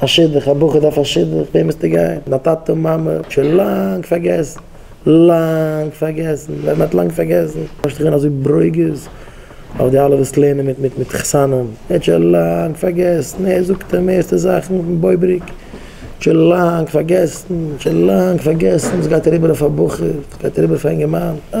א שידוך, א בחור דארף א שידוך, וועם וועסטו גיין? מיט א טאטע און מאמע? שוין לאנג פארגעסן, לאנג פארגעסן, ווען מען האט לאנג פארגעסן, דארפסטו גיין אזוי ברוגז אויף די אלע וואס לערנען מיט מיט מיט חתנים, ער האט שוין לאנג פארגעסן, ער זאגט די מערסטע זאכן אויפן בויבעריק, שוין לאנג פארגעסן, שוין לאנג פארגעסן, וואס גייט אריבער אויף א בחור, וואס גייט אריבער אויף א אינגערמאן, אה.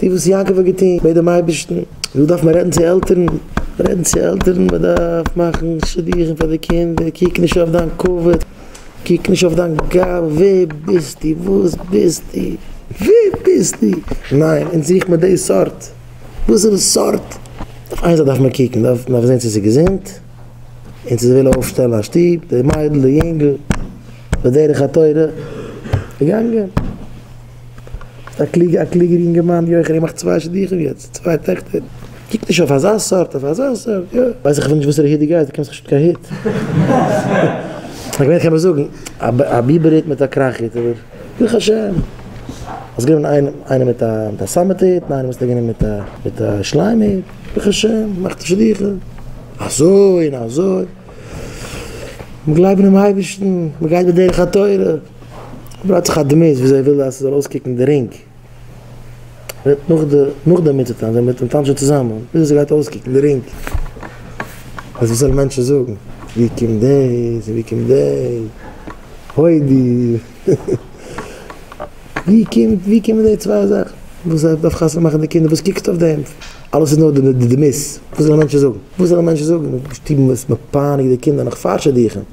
די וואס יעקב האט געטון בעט דעם אייבערשטן, דא דארף מען רעדן צו עלטערן, רעדן צו עלטערן, מען דארף מאכן שידוכים פאר די קינדער, קוק נישט אויף דיין כבוד, קוק נישט אויף דיין גאוה, ווער ביסטו, וואס ביסטו, ווער ביסטו, ניין, אונז זוכט מען די סארט, וואסערע סארט, אויף איין זאך דארף מען קוקן, דארף מען זען צו ס'איז געזונט, און צו זי וויל אויפשטעלן א שטוב, די מיידל, די יונגל, בדרך התורה, געגאנגען. א קלוגע א קלוגער יונגערמאן יאך ער מאכט צוויי שידוכים יעצט צוויי טעכטער קוק נישט אויף אזא סארט אויף אזא סארט יא ווייס איך אפילו נישט וואסערע היט דו גייסט דו קענסט נישט קיין היט כ'מיין כ'קען מיר זאגן א ביבער היט מיט א קראך היט אבער ברוך השם האסט גענומען איינע איינע מיט א מיט א סאמעט היט און איינע האסטו גענומען מיט א מיט א שליים היט ברוך השם מאכט שידוכים אזוי און אזוי מ'גלייבן דעם אייבערשטן מ'גייט בדרך התורה. אבער האט זיך א דמות ווי זיי וויל אז ס'זאל אויסקוקן די רינג וועט נאך די נאך די מצות טאנצן זיי מיט און טאנטשן צוזאמען וויאזוי ס'גייט אויסקוקן די רינג אז וואס זאלן מענטשן זאגן ווי קומט דאס און ווי קומט דעי הודי ווי קומט ווי קומען דעי צוויי זאכן וואס זיי דארף חתונה מאכן די קינדער וואס קוקסטו אויף דעם אלעס איז נאר די דמות וואס זאלן מענטשן זאגן וואס זאלן מענטשן זאגן די שטוב איז מפאנעט די קינדער נאך פארשעדיכן.